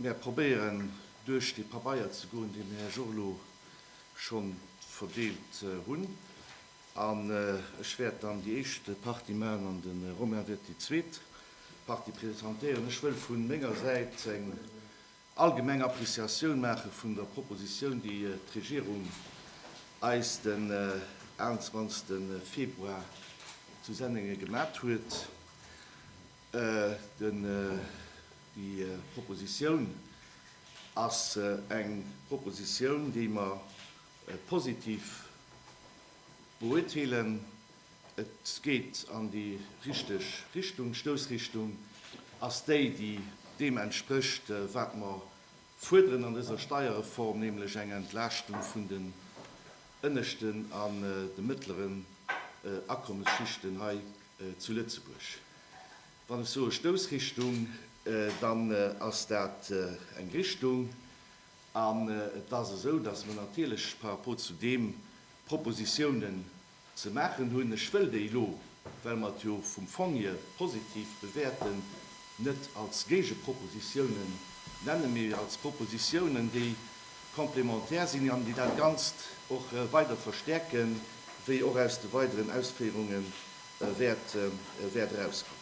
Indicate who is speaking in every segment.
Speaker 1: Mär probéieren duerch déi Pabeier ze goen, déi mir Här Jorlo schonn verdeelt hunn. An ech wäert dann déi éischt Partie maachen an de Romain wäert déi zweet Partie presentéieren. Ech wëll vu menger Säit eng Allgemeng Appreciatioun maache vun der Proposition, déi d'Regierung eis den 21 Februar zu Sennengen gemat huet. Déi Proposition ass eng Proposition, déi mer positiv beurteelen. Et geet an déi richteg Richtung. D'Stoussrichtung ass déi, déi deem entsprécht, wat mer fuerderen an dëser Steierreform, nämlech eng Entlaaschtung vun den ënneschten an de mëttleren Akommesschichten hei zu Lëtzebuerg. Wann ech soe Stoussrichtung, dann ass dat eng Richtung. An et ass esou, dass mer natierlech par rapport zu deem Propositionen, Ze maachen hunn. Ech wëll déi elo, well mer et jo vum Fong hier positiv bewäerten, net als Géigepropositiounen nennen, mee als Propositiounen, déi complémentaire sinn an déi dat Ganzt och weider verstärken, wéi och aus de weideren Ausféierunge wäert erauskommen.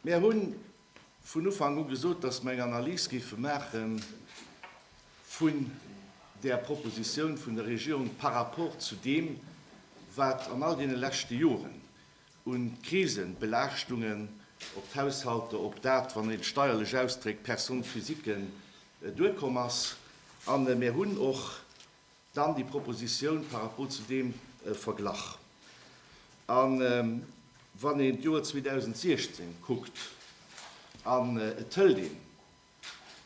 Speaker 1: Mer hunn vun Ufank u gesot, dass mer eng Analys géife maache vun där Proposition vun der Regierung par rapport zu deem, wat an all deene leschte Joren u Krisen, Belaaschtungen op d'Haushalter, op dat, wann een et steierlech ausdréckt, Personnes physiquen duerkomm ass. A mir hunn och Dann déi Proposition par rapport zu deem Verglach. A wann een d'Joer 2016 kuckt an et hëlt een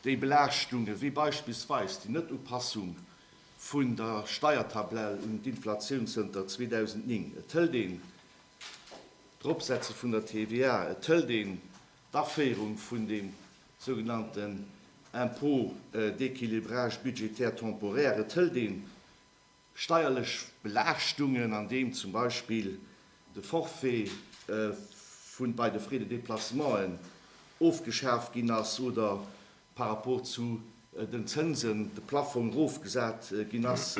Speaker 1: déi Belaaschtunge wéi beispillsweis déi Net-Upassung vun der Steiertabell un d'Inflatioun zënter 2009, et hëlt een d'Eropsetze vun der TVA, et hëlt een D'Aféierung vun deem sougenannten Impôt d'équilibrage budgétaire temporaire, et hëlt ee steierlech Belaaschtungen, andeem zum Beispill de Forfait vun bei de Frais de déplacementen ofgeschaaft ginn ass oder par rapport zu den Zënsen de Plaffong erofgesat ginn ass.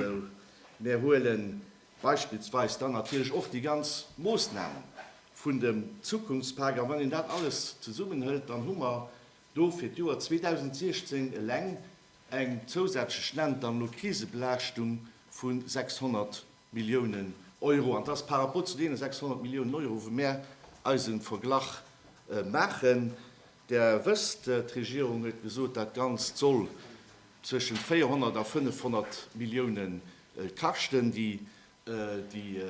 Speaker 1: Mir huelen Beispillsweis dann natierlech och déi ganz Moosnamen vun dem Zukunftspak. A wann een dat alles zesummenhëlt, dann hu mer do fir d'Joer 2016 eleng eng zousätzlech, nennt dann elo, Krisebelaaschtung vu 600 Milliounen Euro. An dat ass par rapport zu deene 600 Milliounen Euro, wou mär eis e Verglach maachen. Der wësst, d'Regierung huet gesot, dat Ganzt soll zwëschent 400 a 500 Milliounen D'Käschten, déi déi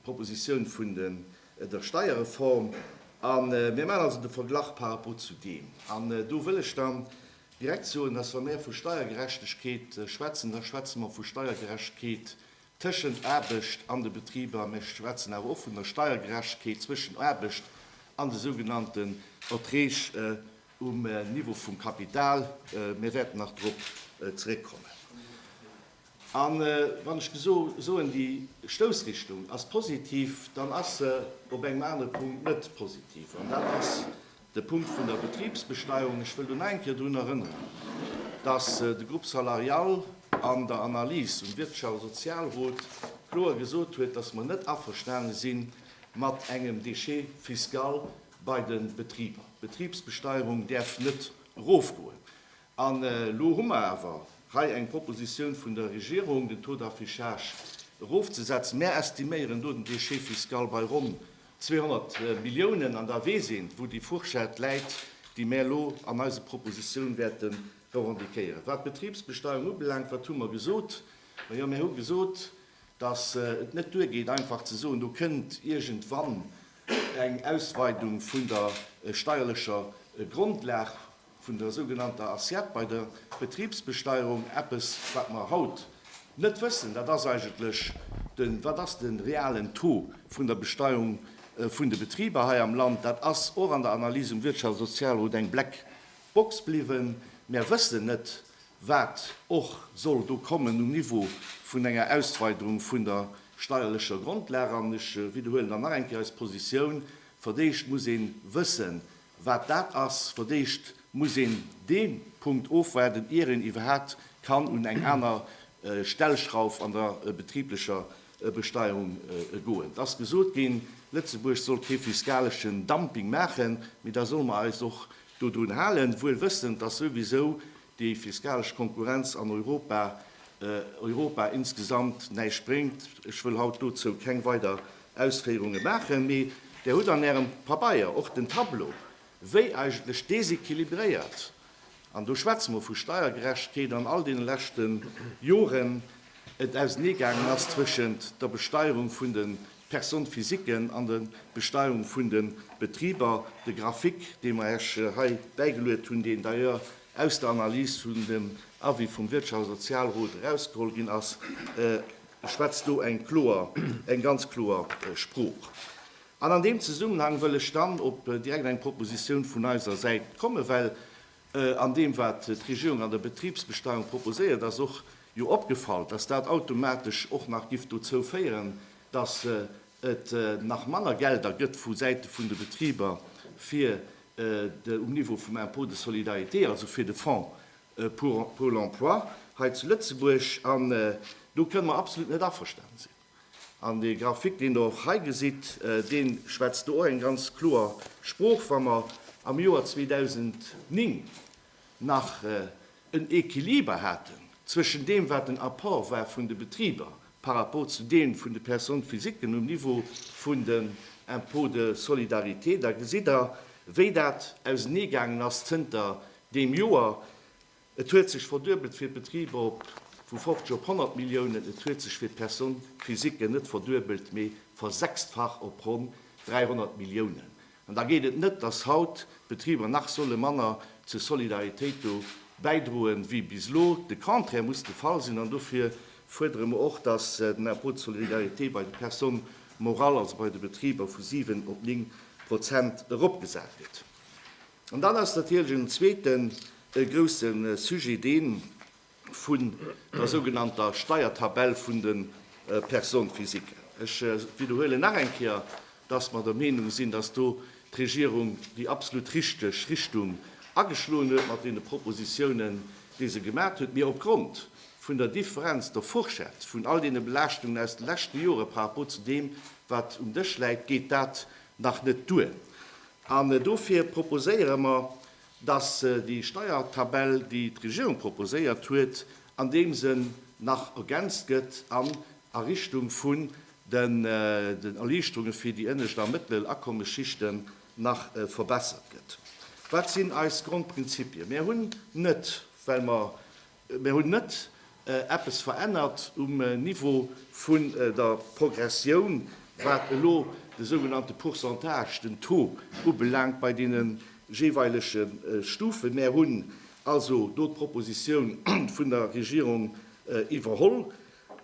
Speaker 1: Proposition vun der Steierreform, a mir maachen also de Verglach par rapport zu deem, an do wëll ech dann direkt soen, dass, wa mir vu Steiergerechtegkeet schwätzen, da schwätze mir vu Steiergerechtegkeet tëschent Aarbecht an de Betriber, mir schwätzen awer och vun der Steiergerechtegkeet zwëschen Aarbecht an de sougenannten Erträg, Um Niveau vum Kapital, mir wäerten nach drop zeréckkommen. A wann ech gesoen, déi Stoussrichtung ass positiv, dann ass se op engem anere Punkt net positiv, an dat ass de Punkt vun der Betribsbesteuerung. Ech wëll do nach eng Kéier drun erënneren, dass de Groupe salarial an der Analys um Wirtschafts a Sozialrot kloer gesot huet, dass mer net averstane si mat engem Déchet fiscal, bei de Betriber. D'Betribsbesteierung däerf net erofgoen. An elo hu mer awer hei eng Proposition vun der Regierung, den Taux d'affichage erofzesetzen. Mär estiméieren do den Déchet fiscal bei ronn 200 Milliounen. An da weess een, wou déi Fourchette läit, déi mär elo an eise Propositionen wäerte revendiquéieren. Wat d'Betribsbesteierung ubelaangt, wat hu mer gesot? Majo, mär hu gesot, dass et net duergeet, einfach ze soen, do kënnt iergendwann eng Ausweidung vun der steierlecher Grondlag vun der sougenannter Assiette bei der Betribsbesteierung, eppes wat mer haut net wëssen, dat ass eigentlech de wat ass de realen Taux vun der Besteuerung vun de Betriber hei am Land. Dat ass och an der Analyse um Wirtschafts a Sozialrot eng Black Box bliwwen. Mär wëssen net, wat och soll do kommen um Niveau vun enger Ausweiderung vun der steierlecher Grondlag. An ech widderhuelen dann nach eng Kéier eis Positioun, Fir d'éischt muss ee wësse wat dat ass. Fir d'éischt muss een dee Punkt ofwaarden, ier een iwwerhaapt kann un eng aner Stellschrauf an der betriblecher Besteierung goen. Et ass gesot ginn, Lëtzebuerg soll kee fiskaleschen Dumping maachen, mee da solle mer eis och dodrun halen, wuel wëssend, dass souwisou déi fiskalesch Konkurrenz an Europa Europa insgesamt näischt bréngt. Ech wëll haut dozou keng weider Ausféierunge maachen, mee Der hutt an Ärem Pabeier och den Tableau, wéi eigentlech déséquilibréiert, an do schwätze mer vu Steiergerechtkeet, an all deene leschte Joren et auseneegaangen ass zwëschent der Besteierung vun de Personnes physiquen an der Besteuerung vun de Betriber. De Graphique, dee mer Iech hei bäigeluet hunn, deen d'ailleurs aus der Analys vun dem Avis vum Wirtschafts a Sozialrot erausgeholl ginn ass, schwätzt do eng kloer, eng ganz kloer Sprooch. An an deem Zesummenhang wëll ech dann op direkt eng Proposition vun eiser Säit kommen, well An deem, wat d'Regierung an der Betribsbesteuerung proposéiert, ass och jo opgefall, dass dat automatesch och nach giff dozou féieren, dass et nach manner Gelder gëtt vu Säite vun de Betriber, fir de um Niveau vum Impôt de solidarité, also fir de Fonds pour l'emploi hei zu Lëtzebuerg. An do kënne mer absolut net averstane sinn. An dee Graphique, deen Der och hei gesitt, dee schwätzt do och eng ganz kloer Sprooch. Wa mer am Joer 2009 nach en Equiliber haten zwëschen deem, wat den Apport war vun de Betriber par rapport zu deem vun de Personnes physiquen um Niveau vun den Impôts de solidarité, da gesitt Der, wéi dat auseneegaangen ass zënter deem Joer. Et huet sech verduebelt fir d'Betriber op vu 50 op 100 Milliounen. Et huet sech fir d'Personne physiquen net verduebelt, mee versechstfacht op ronn 300 Milliounen. An da geet et net, dass haut d'Betriber nach solle manner zur Solidaritéit do bäidroe wéi bis elo. De Contraire muss de Fall sinn. An dofir fuerdere mer och, dass den Impôt de solidarité bei de Personnes morales, also bei de Betriber, vu 7 op 9 Prozent eropgesat gëtt. An dann ass natierlech en zweeten grousse Sujet dee vun der sougenannter Steiertabell vun de Personnes physiques. Ech widderhuelen nach eng Kéier, dass mer der Meenung sinn, dass do d'Regierung déi absolut richteg Richtung ageschloen huet mat deene Propositionen, déi se gemaat huet. Mee opgrond vun der Differenz, der Fourchette vun all deene Belaaschtungen aus de leschte Jore par rapport zu deem, wat um Dësch läit, geet dat nach net duer. An dofir proposéiere mer, dass déi Steiertabell, déi d'Regierung proposéiert huet, an deem Sënn nach ergänzt gëtt an a Richtung vun den Erliichterunge fir déi ënnescht a mëttel Akommesschichten nach verbessert gëtt. Wat sinn eis Grondprinzipien? Mär hunn net, well mer Mir hunn net eppes verännert um Niveau vun der Progressioun, wat elo de sougenannte Pourcentage, den Taux ubelaangt bei deene jeeweilege Stufen. Mir hunn also do d'Proposition vun der Regierung iwwerholl.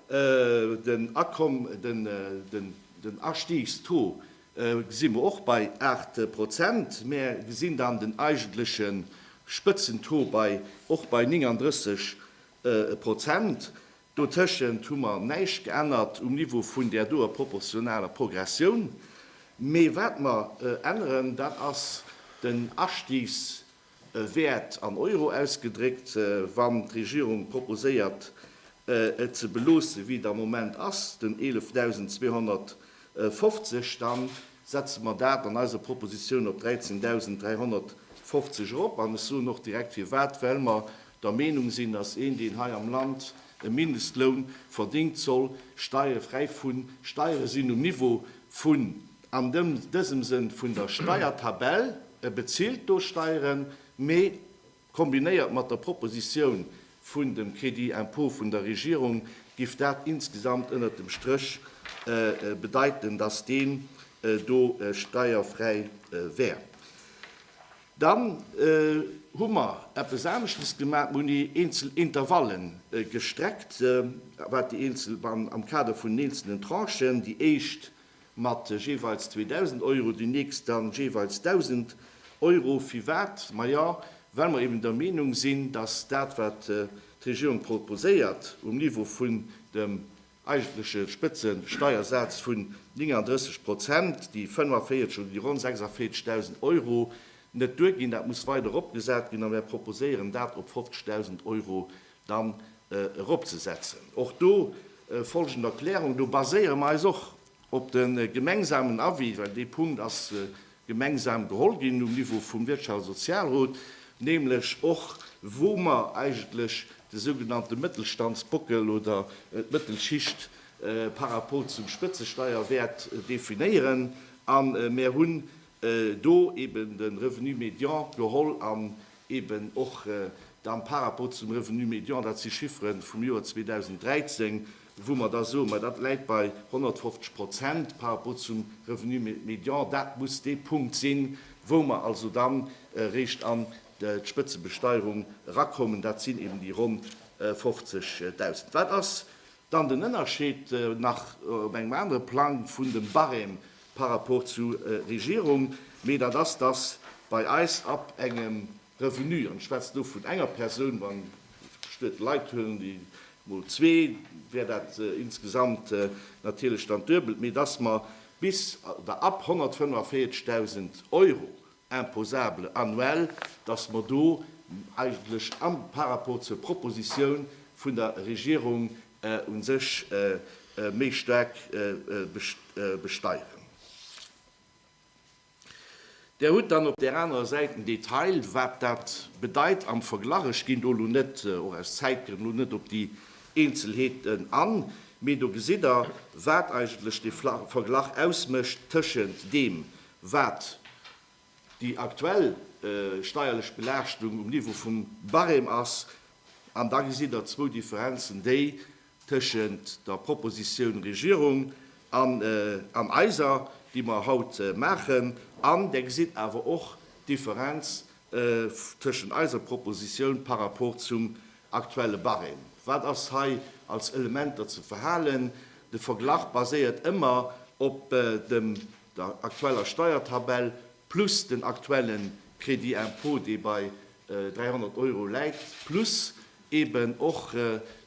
Speaker 1: Den Akomm, den Astiegstaux gesi mer och bei 8 Prozent. Mer gesinn dann den eigentleche Spëtzen-Taux bei och bei 39 Prozent. Dotëschent hu mer näischt geännert um Niveau vun där doe proportionaler Progressioun. Mee wat mer änneren, dat ass den Astiegstaux e Wäert an Euro ausgedréckt, wann d'Regierung proposéiert, et ze beloossen, wéi et am Moment ass, den 11.250, da setze mer dat an eiser Proposition op 13.350 erop. An ech soen och direkt firwat, Well mer der Meenung sinn, dass een, deen hei am Land e Mindestloun verdéngt, soll steierfräi vun Steiere sinn um Niveau vun An dësem Sënn vun der Steiertabell, E bezilt do Steieren, mee kombinéiert mat der Propositioun vun dem Crédit impôt vun der Regierung giff dat insgesamt ënnert dem Stréch bedeiten, dass deen do steierfräi wär. Dann hu mer eppes aneschtes gemaach, Mer hunn eenzel Intervalle gestreckt, wat déi eenzel, am Kader vun den eenzelnen Tranchen. Déi éischt mat jeeweils 2.000 Euro, déi nächst dann jeeweils 1.000 Euro. Firwat? Majo, well mer eben der Meenung sinn, dass dat, wat d'Regierung proposéiert um Niveau vun dem eigentleche Spëtzesteiersaz vun 39 Prozent, déi 45 oder déi ronn 46.000 Euro, net duerginn. Dat muss weider eropgesat ginn a mir proposéieren, dat op 50.000 Euro dann eropzesetzen. Och do folgend Erklärung, Do baséiere mer eis och op de gemengsamen Avis, well dee Punkt ass gemeinsam geholl ginn um Niveau vum Wirtschafts a Sozialrot, nämlech och wou mer eigentlech de sougenannte Mëttelstandsbockel oder d'Mëttelschicht par rapport zum Spëtzesteierwäert definéieren. A mer hunn do eeben de Revenu médian geholl an Eben och dann par rapport zum Revenu médian, dat si Chiffere vum Joer 2013, wou mer da soen, ma dat läit bei 150 Prozent par rapport zum Revenu médian. Dat muss dee Punkt sinn, wou mer also dann eréischt an d'Spëtzebesteierung erakommen. Dat sinn eben déi ronn 50.000. Wat ass dann den Ënnerscheed nach op engem anere Plang vun dem Barème par rapport zu Regierung, mee dat ass, dass bei eis ab engem Revenu, an ech schwätze do vun enger Persoun, wann d'Stued Leit huelen, déi mol zwee, wär dat insgesamt natierlech dann d'Duebelt, mee dass mer bis oder ab 145.000 Euro, imposable annuel, dass mer do eigentlech par rapport zur Proposition vun der Regierung u sech méi staark besteieren. Der hutt dann op där anerer Säit den Detail, wat dat bedeit am Verglach. Ech ginn do elo net, och aus Zäitgrënn, elo net op déi Eenzelheeten an, mee do gesitt Der, wat eigentlech dee Verglach ausmécht tëschent deem, Wat déi aktuell steierlech Belaaschtung um Niveau vum Barème ass, an da gesitt Der zwou Differenzen, déi tëschent der Proposition Regierung an eiser, déi mer haut maachen, an Der gesitt awer och d'Differenz tëschent eiser Proposition par rapport zum aktuelle Barème. Wat ass hei als Elementer ze verhalen? De Verglach baséiert ëmmer op dem der aktueller Steiertabell plus den aktuelle Crédit impôt, dee bei 300 Euro läit, plus eeben och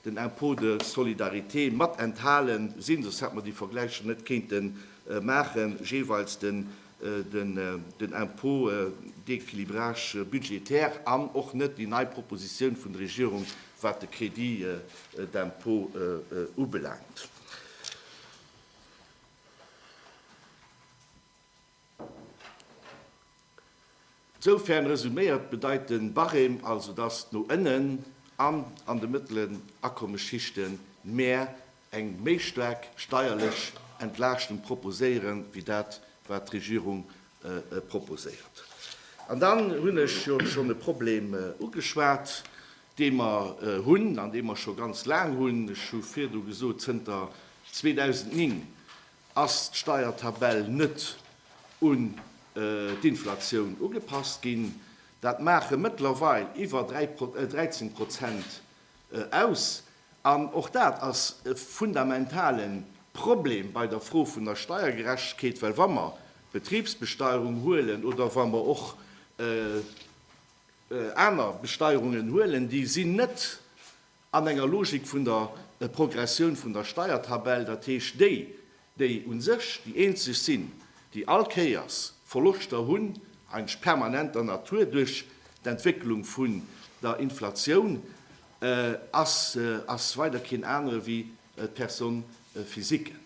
Speaker 1: den Impôt de solidarité mat enthale sinn, soss hätte mer déi Vergläicher net kéinte maachen, jeeweils den Impôt d'équilibrage budgétaire an och net déi nei Propositioun vun der Regierung, wat de Crédit d'impôt ubelaangt. Soufern resuméiert bedeit den Barème also dass no ënnen an an de mëttelen Akommesschichten mär eng méi staark steierlech Entlaaschtung proposéieren wéi dat wat d'Regierung proposéiert. An dann hunn ech jo schonn e Problem ugeschwat, dee mer hunn an dee mer scho ganz laang hunn, ech hu virdu gesot zënter 2009, ass d'Steiertabell net un d'Inflatioun ugepasst ginn. Dat maache mëttlerweil iwwer 13 Prozent aus. An och dat ass e fundamentale Problem bei der Fro vun der Steiergerechtegkeet, well wa mer d'Betribsbesteierung huelen oder wa mer och, aner Besteierungen huelen, déi sinn net an enger Logik vun der Progressioun vun der Steiertabell, dat heescht déi, déi u sech déi eenzeg sinn, déi all Kéiers Verloschter hunn, eigentlech permanenter Natur duerch d'Entwécklung vun der Inflatioun, ass weider keen anere wéi d'Personnes physiques.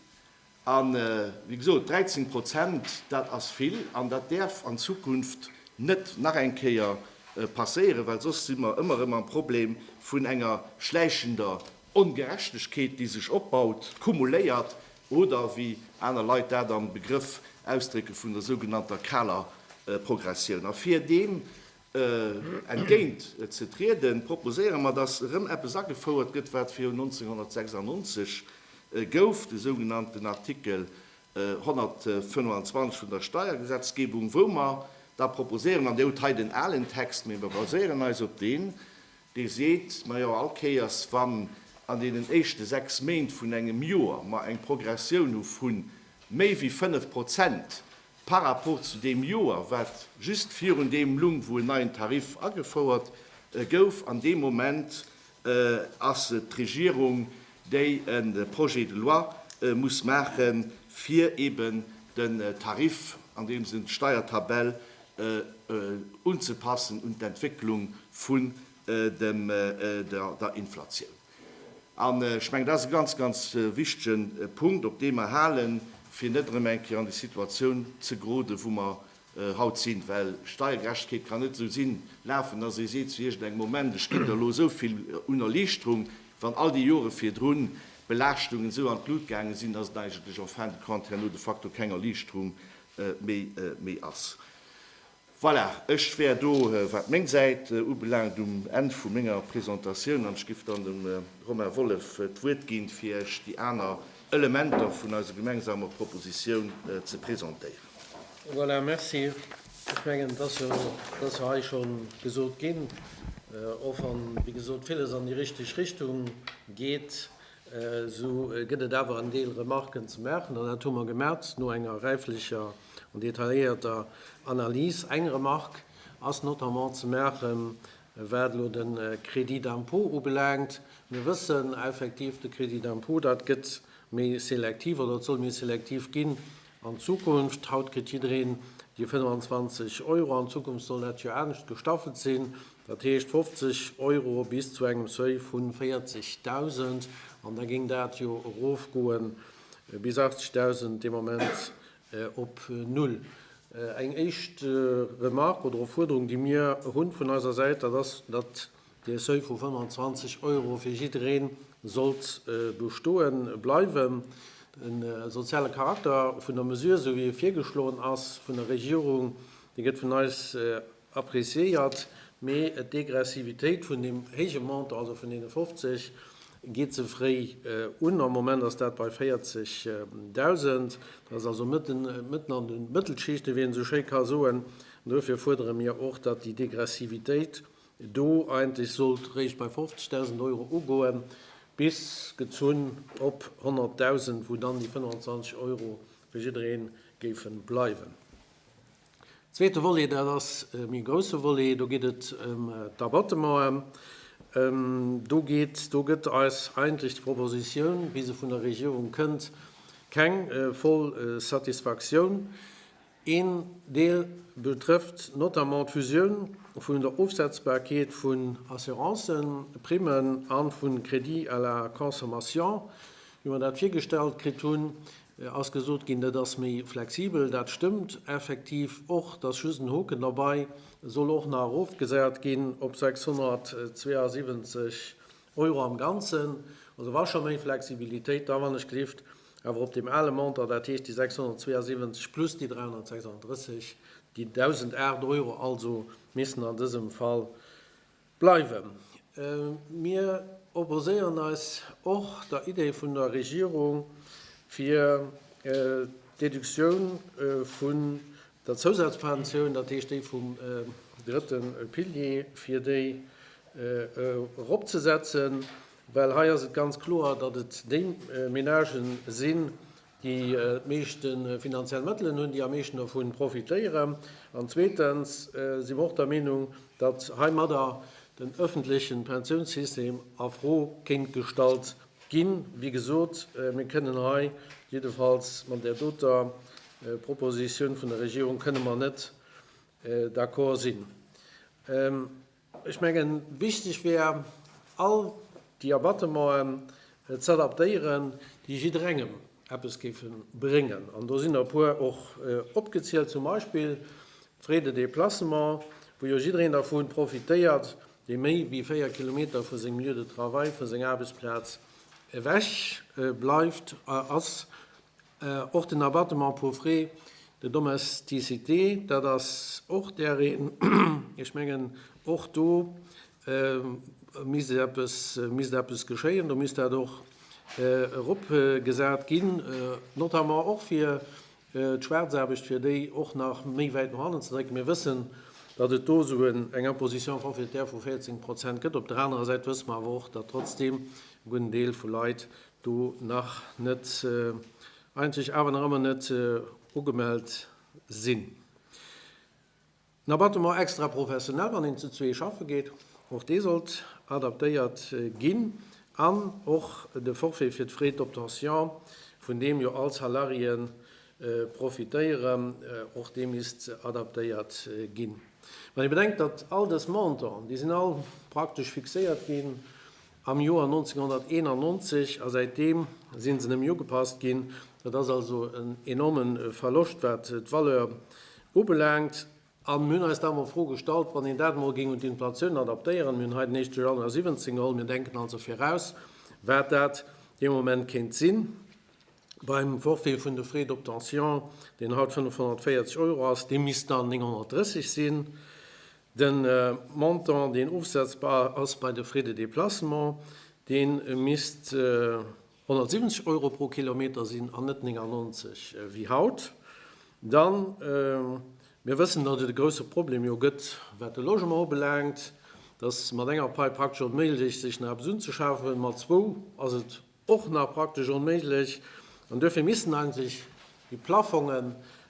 Speaker 1: A wéi gesot, 13 Prozent, dat ass vill an dat däerf an Zukunft net nach eng Kéier passéieren, well soss si mer ëmmer erëm am Problem vun enger schläichender Ongerechtegkeet, déi sech opbaut, kumuléiert oder wéi aner Leit dat am Begrëff ausdrécke vun der sougenannter kaler Progressioun. A fir deem Entgéint ze trieden, proposéiere mer, dass erëm eppes agefouert gëtt, wat viru 1996 gouf, de sougenannten Artikel 125 vun der Steiergesetzgebung, wou mer da proposéieren, an Dir hutt hei den alen Text, mee mer baséieren eis op deen, dee seet, Majo, all Kéiers, wann an deenen éischte sechs Méint vun engem Joer mer eng Progressioun hu vu méi wéi fënnf Prozent, Par rapport zu deem Joer, wat just virun deem lung, wou en neien Tarif agefouert gouf, an deem Moment ass et d'Regierung, déi e Projet de loi muss maache fir eeben den Tarif, an deem Sënn d'Steiertabell, unzepassen un d'Entwécklung vun der Inflatioun. An ech mengen, dat ass e ganz, ganz wichtige Punkt, op deem mer halen, fir net erëm eng Kéier an déi Situatioun ze geroden, wou mer haut sinn. Well Steiergerechtegkeet kann net esou sinn, lafen, dass ee seet zu iergendengem Moment, ech ginn der elo esou vill un Erliichterung, wann all déi Jore virdru Belaaschtungen esou an d'Lut gaange sinn, dass et eigentlech en fin de compte herno de facto keng Erliichterung méi ass. Voilà, ech wär do, wat meng Säit ubelaangt, um Enn vu menger Presentatioun an ech géif dann dem Romain Wollef d'Wuert ginn, fir Iech déi aner Elementer vun eiser gemengsamer Proposition ze presentéieren. Voilà,
Speaker 2: merci. Ech mengen, et ass jo hei scho gesot ginn, och wann, wéi gesot, villes an déi richteg Richtung geet, Esou gëtt et awer en Deel Remarken ze maachen, an dat hu mer gemat no enger räiflecher an detailléierter Analys. Eng Remark ass notamment ze maachen, wat elo de Crédit d'impôt ubelaangt. Mir wëssen effektiv, de Crédit d'impôt, dat gëtt méi selektiv oder et soll méi selektiv ginn, An Zukunft, haut kritt jiddereen déi 25 Euro, an Zukunft soll dat jo anescht gestaffelt sinn, dat heescht 50 Euro bis zu engem Seuil vu 40.000, an da géing dat jo erofgoe bis 80.000, dee Moment op null. Eng éischt Remarque oder Opfuerderung, déi mir hu vun eiser Säit, dat ass, datt Dee Seuil vu 25 Euro fir jidderee sollt bestoe bleiwen. De soziale Charakter vun der Mesure, esou wéi e virgeschloen ass vun der Regierung, dee gëtt vun eis appreciéiert, mee d'Degressivitéit vun deem héije Montant, also vun deene 50, geet ze fréi un. Am Moment ass dat bei 40.000. Dat ass also mëtten an de Mëttelschicht, ewéi een esou schéi ka soen. An duerfir fuerdere mir och, datt déi Degressivitéit, do eigentlech sollt réischt bei 50.000 Euro ugoen, bis gezunn op 100.000, wou dann déi 25 Euro fir jidderee géife bleiwen. Zweete Volet, dat ass e méi grousse Volet, do geet et ëm d'Abattementen. Do geet, do gëtt eis eigentlech d'Propositioun, wéi se vun der Regierung kënnt, keng voll Satisfaktioun. Een Deel betrëfft notamment d'Fusioun vun der Ofsetzbarkeet vun Assurancen, Primmen a vu Crédits à la consommation. Wéi mer dat virgestallt kritt hunn, ass gesot ginn, dat ass méi flexibel. Dat stëmmt effektiv och. Et ass just en Hoken derbei, E soll och nach erofgesat ginn op 672 Euro am Ganzen. Also wa scho méi Flexibilitéit, da wann ech gelift Awer op deem ale Montant, dat heescht déi 672 plus déi 336, déi 1.008 Euro also missten an dësem Fall bleiwen. Mir opposéieren eis och der Idee vun der Regierung, fir d'Deductioun vun der Zousazpensioun, dat heescht déi vum drëtte Pilier, fir déi eropzesetzen. Well hei ass et ganz kloer, datt et déi Menagë sinn, déi d'meeschte finanziell Mëttelen hunn, déi am meeschten dovu profitéieren. An zweetens si mer och der Meenung, datt heimadder den öffentleche Pensiounssystem a Fro kéint gestallt ginn. Wéi gesot, mir kënnen hei jiddefalls mat där doter Propositioun vun der Regierung kënne mer net d'accord sinn. Ech mengen, wichteg wär, all déi Abattement'en z'adaptéieren, déi jidderengem eppes géife bréngen. An do sinn der e puer och opgezielt, zum Beispill d'Frais de déplacement, wou jo jiddereen dervu profitéiert, dee méi wéi véier Kilometer vu sengem Lieu de travail, vu senger Aarbechtsplaz ewech bleift, ass Och den Abattement pour frais de domesticité, dat ass och dereen. Ech mengen, och do misst eppes, misst eppes geschéien. Do misst dat och eropgesat ginn, notamment och fir d'Schwaarzaarbecht, fir déi och nach méi wäit no hannen ze drécken. Mir wëssen, datt et do esou eng Imposition forfaitaire vu 14 Prozent gëtt. Op der anerer Säit wësse mer awer och, datt trotzdeem e gudden Deel vu Leit, Do nach net eenzeg, awer nach ëmmer net ugemellt sinn. En Abattement extra professionell, wann een zu zwee schaffe geet, och dee sollt adaptéiert ginn. An och de Forfait fir d'Frais d'obtention, vun deem jo all Salarié profitéieren, och dee misst adaptéiert ginn. Wann ee bedenkt, datt all dës Montanten, déi sinn all praktesch fixéiert ginn, am Joer 1991 a säitdeem sinn se nëmme ugepasst ginn. Dat ass also en enorme Verloscht, wat d'Valeur ubelaangt. A mir hunn eis da emol d'Fro gestallt, wann een dat emol géing un d'Inflatioun adaptéieren, mir hunn hei den 1. Januar 17 geholl, mir denken also viraus, wat dat dee Moment kéint si beim Forfait vun de Frais d'obtention, deen haut 540 Euro ass, dee misst dann 930 sinn. De Montant, deen ofsetzbar ass bei de Frais de déplacement, dee misst 170 Euro pro Kilometer sinn an net 99 wéi haut. Da mir wëssen, datt et e grouse Problem jo gëtt, wat de Logement ubelaangt, datt mat enger Peip praktesch onméiglech sech nach eppes unzeschafe, mat zwou ass et och nach praktesch onméiglech an duerfir missten hei sech déi Plafonge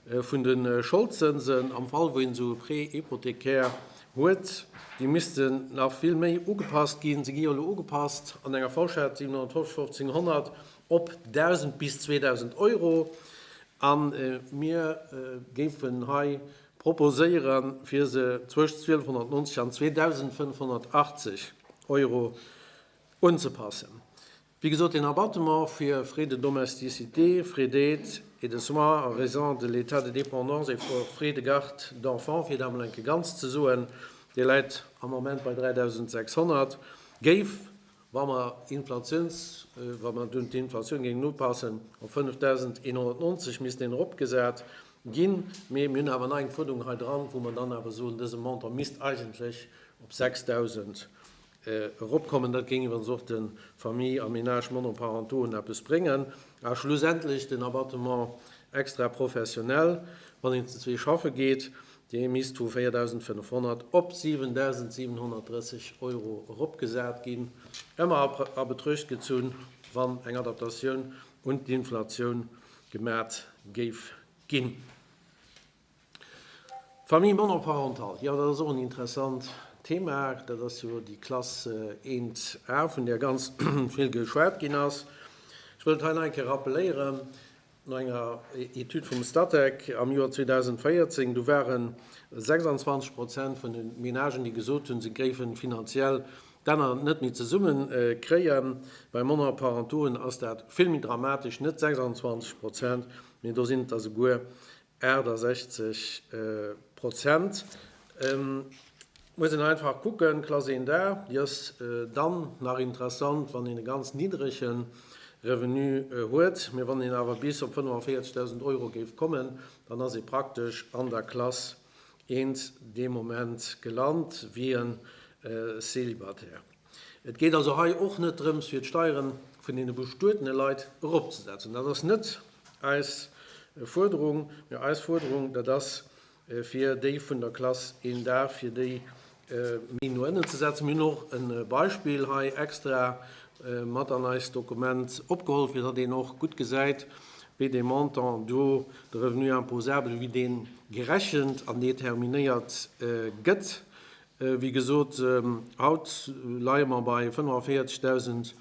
Speaker 2: vun de Scholdzënsen, am Fall wou een esou e Prêt hypothécaire huet, déi missten nach vill méi ugepasst ginn. Se gi jo elo ugepasst an enger Fourchette 750, 1500 op 1000 bis 2000 Euro a mir géifen hei proposéieren, fir se zwëscht 1290 an 2580 Euro unzepassen. Wéi gesot, den Abattement fir Frais de domesticité, Frais d'aide et de soins a raison de l'état de dépendance et Frais de garde d'enfants, fir et emol enke ganz ze soen, dee läit am Ament bei 3.600, géif, wa mer Inflatiouns, wa mer do d'Inflatioun géingen upassen, op 5.190 missten eropgesat ginn. Mee mir hunn awer nach eng Fuerderung hei dran, wou mer dann awer soen, dëse Montant misst eigentlech op 6.000 eropkommen. Dat géing iwwregens och de Familles a Ménages monoparentauxen eppes bréngen. A schlussendlech den Abattement extraprofessionnel, wann een zu zwee schaffe geet, dee misst vu 4.500 op 7.730 Euro eropgesat ginn, ëmmer a Betruecht gezunn, wann eng Adaptatioun un d'Inflatioun gemat géif ginn. Famille monoparentale, jo dat ass och en interessant Thema. Dat ass jo déi Klass 1 A, vun där ganz vill geschwat ginn ass. Ech wëll et hei nach eng Kéier rappeléieren, No enger Etüd vum Statec am Joer 2014, du ware 26 Prozent vun de Menagen, déi gesot hunn, se géife finanziell d'Enner net méi zesumme kréien. Bei Monoparentauxen ass dat vill méi dramatesch, net 26 Prozent, mee do sinn et der souguer 68 Prozent. Et muss een einfach kucken, Klass 1a, déi ass dann nach interessant, wann een e ganz niddrege Revenu huet. Mee wann een awer bis op 45.000 Euro géif kommen, dann ass ee praktesch an der Klass 1 dee Moment gelant, wéi e Célibataire. Et geet also hei och net drëms, fir d'Steieren vun deene bestuetene Leit eropzesetzen. Dat ass net eis Fuerderung. Mä eis Fuerderung, dat ass, fir déi vun der Klass een Dag, fir déi méi no ënnen ze setzen. Mir hunn och e Beispill hei extra mat an eist Dokument opgeholl, fir datt een och gutt gesäit, wéi dee Montant do, de Revenu imposable, wéi dee gerechent an determinéiert gëtt. Wéi gesot, haut leie mer bei 45.000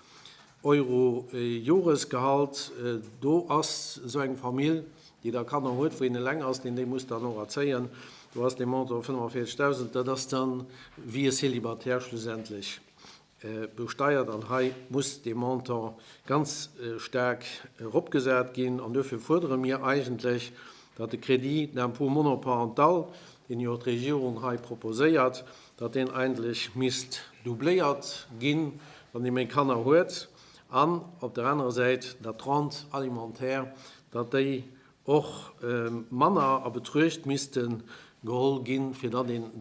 Speaker 2: Euro Joresgehalt. Do ass esou eng Famill, déi da Kanner huet, wou een eleng ass, deen déi muss dann och erzéien, do ass dee Montant 45.000, dat ass da wéi e Célibataire schlussendlech. besteiert an hei muss dee Montant ganz staark eropgesat ginn. An duerfir fuerdere mir eigentlech, datt de Crédit d'impôt monoparental, deen jo d'Regierung hei proposéiert, datt deen eigentlech misst doubléiert ginn, wann ee méi Kanner huet, an op der anerer Säit, datt d'Rente alimentaire, datt déi och manner a Betruecht misste geholl ginn, fir datt een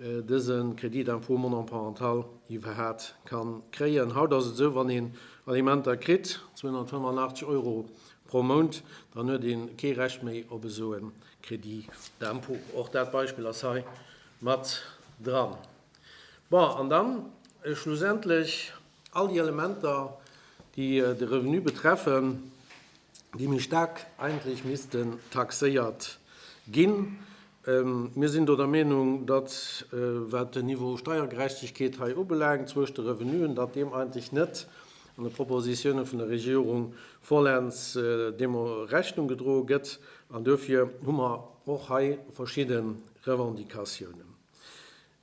Speaker 2: dëse Crédit d'impôt monoparental iwwerhaat ka kréien. Haut ass et esou, wann een Alimenter kritt, 285 Euro pro Mount, dann huet ee kee Recht méi op esou e Crédit d'impôt. Och dat Beispill ass hei mat dran. Bon, an dann schlussendlech All déi Elementer, déi de Revenu betreffen, déi méi staark eigentlech missten taxéiert ginn. Mir sinn do der Meinung, datt, wat den Niveau Steiergerechtegkeet hei ubelaangt zwëscht de Revenuen, datt deem eigentlech net an de Propositionen vun der Regierung vollends deemno Rechnung gedroe gëtt. An duerfir hu mer och hei verschidde Revendicatiounen.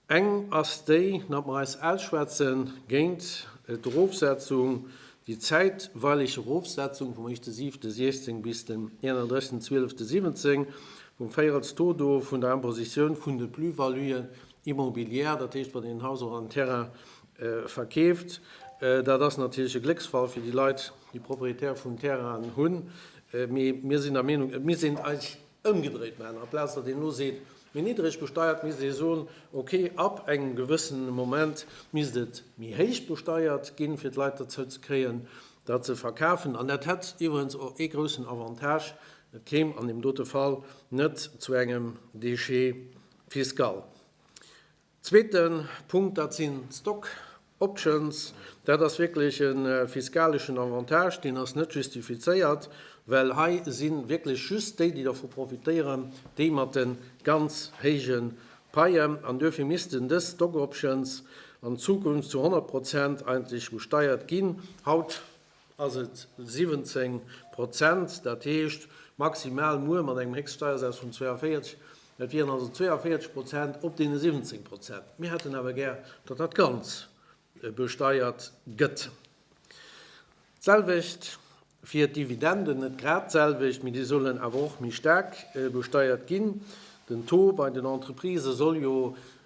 Speaker 2: Eng ass déi, datt mer eis ausschwätze géint d'Erofsetzung, déi zäitweileg Erofsetzung vum 1.7.16 bis den 31.12.17 vum Véirelstodo vun der Impositioun vun de Plus-values immobilières, dat heescht, wann een en Haus oder en Terrain verkeeft. Dat ass natierlech e Glécksfall fir déi Leit, déi Propriétaires vun Terrainen hunn, mee mir sinn der Meenung, et misst een eis, Ëmgedréit maachen, amplaz datt een elo seet, méi niddreg besteiert, misst ee soen, ok, ab engem gewëssene Moment misst et méi héich besteiert ginn, fir d'Leit derzou ze kréien, datt se verkafen. An dat hätt iwwerens och ee groussen Avantage, Et kéim an deem dote Fall net zu engem Déchet fiscal. Zweete Punkt, dat sinn d'Stock options. Dat ass wierklech e fiskaleschen Avantage, deen ass net justifizéiert, well hei si wierklech just déi, déi dervu profitéieren, déi mat de ganz héije Paien. An duerfir missten dës Stock options an Zukunft zu 100 Prozent eigentlech besteiert ginn. Haut ass et 17 Prozent, dat heescht maximal muer mat engem Héchststeiersaz vun 42, dat wieren also 42 Prozent op deene 17 Prozent. Mir hätten awer gär, datt dat Ganz besteiert gëtt. D'selwecht fir d'Dividenden, net grad d'selwecht, mee déi sollen awer och méi staark besteiert ginn. Den Taux bei den Entreprisë soll jo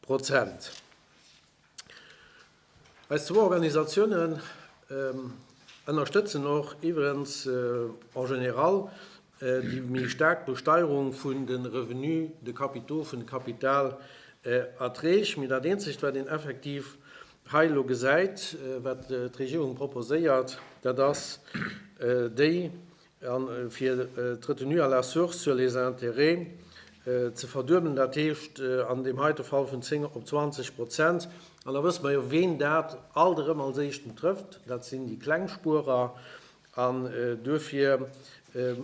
Speaker 2: Prozent. Eis zwou Organisatiounen ënnerstëtzen och iwwerens en général déi méi staark Besteierung vun de Revenus de capitaux, vun de Kapitalerträg. Mee dat eenzegt, wat een effektiv hei elo gesäit, wat d'Regierung proposéiert, dat ass déi A fir d'Retenue à la source sur les intérêts ze verduebelen, dat heescht an deem heite Fall vun 10 op 20 Prozent. An da wësse mer jo, ween dat alt erëm als Éischten trëfft, Dat sinn déi kleng Spuerer. An duerfir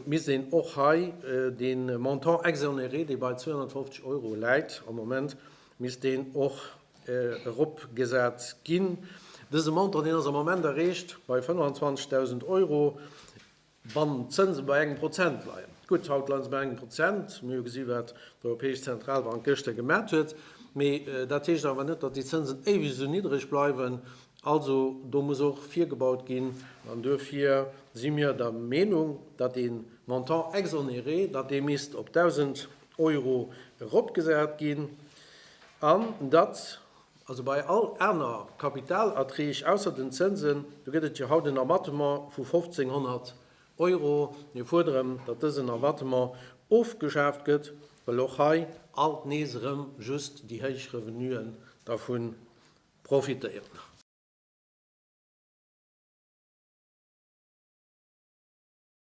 Speaker 2: misst een och hei de Montant exonéré, dee bei 250 Euro läit am Moment, misst deen och eropgesat ginn. Dëse Montant, deen ass am Ament erreecht bei 25.000 Euro, wann d'Zënse bei engem Prozent leien. Gutt, haut leie se bei engem Prozent. Mir hu gesi wat d'Europäesch Zentralbank gëschter gemat huet. Mee dat heescht awer net, datt déi Zënsen éiweg esou niddreg bleiwen. Also do muss och virgebaut ginn. An duerfir si mir der Meenung, datt dee Montant exonéré, datt dee misst op 1.000 Euro eropgesat ginn an datt. Also bei all aner Kapitalerträg, ausser den Zënsen, do gëtt et jo haut en Abattement vu 1.500 Euro. Mir fuerderen, datt dësen Abattement ofgeschaaft gëtt, well och hei alt nees erëm just déi héich Revenuen dervu profitéieren.